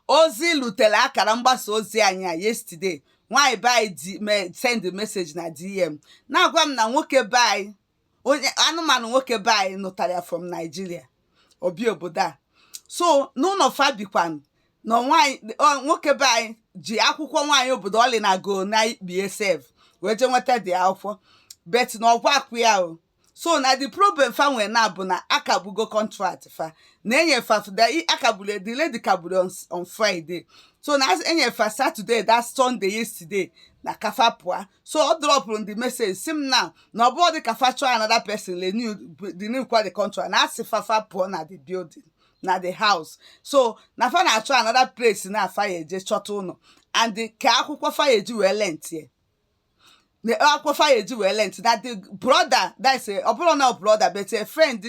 ozi lutere akara mgbasa ozi anyị a yesterday nwaanyị be anyị di me send message na dm na-agwa m na nwoke be anyị onye anụmanụ nwoke be anyị nụtara ya from Nigeria o bi obodo a so n'ụlọ fa bikwanụ na nwaanyị ọ- nwoke be anyị ji akwụkwọ nwaanyị obodo ọlị na go na ikpie sef wee jee nweta the akwụkwọ but na ụgwọ a kwụ ya o so now the problem fa nwere now bụ na a kagbugo contract fa na e nye fa a kagburu the lady kagburu on, on friday so na as- e nye fa saturday that sunday yesterday na ka fa pụa so ọ dropụrụ the message sị m now na ọ bụrụ dị ka fa chọọ another person renew renew kwa the contract na a sị fa fa pụọ na the building na the house so na fa na-achọ another place na fa ya eje chọta ụlọ and the- ka akwụkwọ fa ya eji wee lentie na akwụkwọ fa ya eji wee lent na the brother that is ọ bụrọ na brother but a friend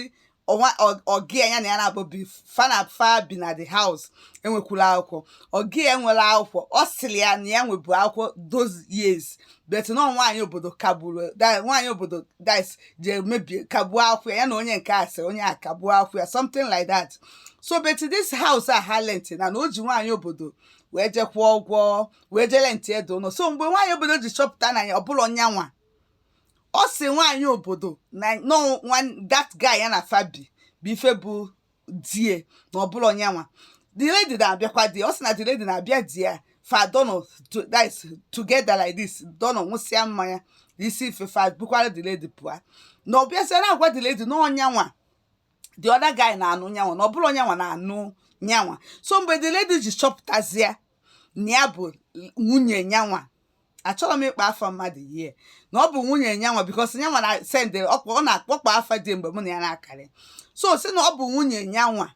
ọnwa oga ya na ya naabọ bi fa na fa bi na the house enwekwurọ akwụkwọ oga ya enwerọ akwụkwọ ọ sịrị ya na ya nwebu akwụkwọ those years but na nwaanyị obodo kagburu nwaanyị obodo that is je mebie kagbuo akwụkwọ ya na onye nke a sị onye a kagbuo akwụkwọ ya something like that so but this house a ha lent na na o ji nwaanyị obodo wee je kwụọ ụgwọ wee je lentie the ụlọ so mgbe nwaanyị obodo ji chọpụta na ya ọ bụrọ nyanwa ọ sị nwaanyị obodo na that guy ya na fa bi bụ ife bụ di ya na ọ bụrọ nyanwa the lady na-abịakwa di ọ sị na the lady na-abịa there fa dono together like this dono nwụsịa mmanya isi ife fa bukwara the lady pụa na ọ bịazịa na-agwa the lady na ọ nyanwa the other guy na-anụ nyanwa na ọ bụrọ nyanwa na-anụ nyanwa so mgbe the lady ji chọpụtazie na ya bụ nwunye nyanwa achọrọ m ịkpọ afa mmadụ here na ọ bụ nwunye nyanwa because nyanwa na sendịrị ọ kpọ ọ na-akpọkpọ afa di mgbe mụ na ya na-akarị so sị na ọ bụ nwunye nyanwa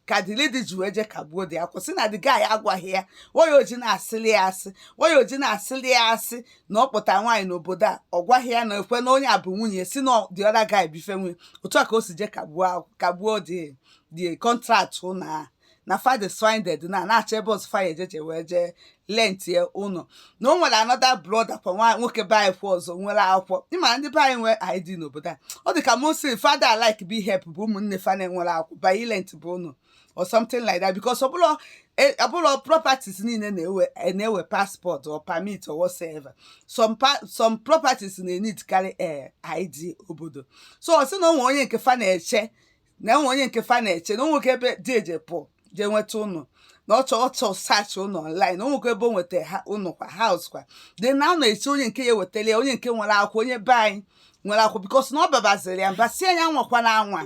ka the lady ji wee je kagbuo the akwụ sị na the guy agwaghị ya why o ji na-asịli ya asị why o ji na-asịli ya asị na ọ kpọta nwaanyị n'obodo a ọ gwaghị ya na ekwe na onye a bụ nwunye sị na the other guy bụ ife nwe otu a ka o si je kagbuo akwụ- kagbuo the the contract ụlọ ahụ na fa dị stranded now na-achọ ebe ọzọ fa ya eje je wee jee lentie ụlọ na o nwere another brother kwa nwa nwoke be anyị kwa ọzọ nwere akwụkwọ ị ma ndị be anyị nwee id n'obodo a ọ dị ka most fa ada alike bụ ịhelp bụ ụmụnne fa na-enwerọ akwụkwọ by ịlent bụ ụlọ or something like that because ọ bụrọ e- ọ bụrọ properties niile na-ewe e- na-ewe passport or permit or whatsoever some pa- some properties na-eneed karị eh, id obodo so ọ sị na o nwe onye nke fa na-eche na enwe onye nke fa na-eche na o nwekwa ebe dị eje pụọ jee nweta ụnọ na ọchọ ọchọ search ụnọ online o nwekwa ebe o nweta ha ụnọ kwa house kwa dị na ọ na-eche onye nke ya ewetara ya onye nke nwere akwụkwọ onye be anyị nwere akwụkwọ because na ọ babaziri ya mba si ya nwakwa na anwa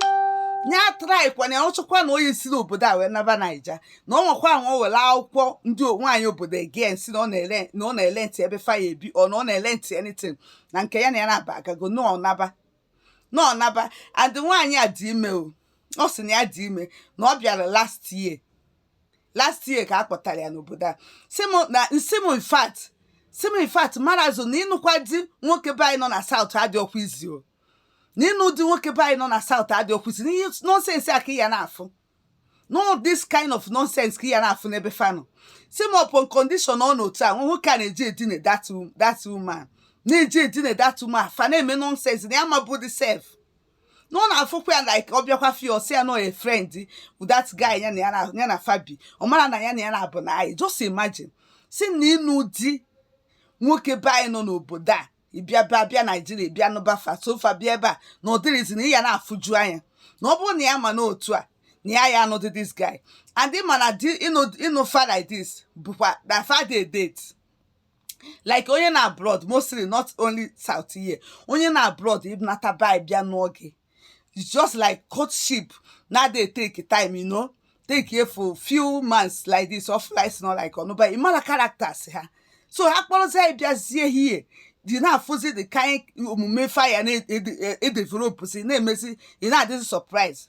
nya atrykwa na ya ọ chọkwa na onye si n'obodo a wee naba naija na ọ nwakwa anwa o were akwụkwọ ndị nwaanyị obodo again si na ọ na-ele na ọ na-ele ntị ebe fa ya-ebi ọ na ọ na-ele ntị anything na nke ya na ya na-aba agago na ọ naba na ọ naba and nwaanyị a dị ime o ọ sị na ya dị ime na ọ bịara last year last year ka a kpọtara ya n'obodo a sị m na nsị m in fact sị m in fact marazụ na ịnụkwa di nwoke be anyị nọ na South adịrọkwa easy o na ịnụ di nwoke be anyị nọ na South adịrọkwa easy na ihe nonsense a ka ị ya na-afụ no this kind of nonsense ka ị ya na-afụ n'ebe fa nọ sị m upon condition ọ na otu a nwa nwoke a na-eji edine that wo- that woman na-eji edine that woman fa na-eme nonsense na ya mabụ the self na ọ na-afụkwa ya like ọ bịakwa fi ọ sị ya na oye friend with that guy ya na ya na- ya na fa bi ọ mara na ya na ya na-abụ na anyị just imagine sị na ịnụ di nwoke be anyị nọ n'obodo a ịbịa bịa bịa naijiria bịa nụba fa so fa bịa ebe a na ọ dịrọ easy na ị ya na-afụju anya na ọ bụrụ na ya ma n'otu a na ya ya anụdị this guy and ị ma na ịnụ fa like this bụkwa na fa dị date like onye nọ abroad mostly not only south here onye nọ abroad ịnata bi bịa nụọ gị it's just like courtship na dey take time you know take here for few months like this or flies not like ọnụ but ị mara characters ha so ha kpọrọzie ya bịazie here ị na-afụzi the kind omume fa ya na-edevelopụzi na-emezi ị na-adịzi surprise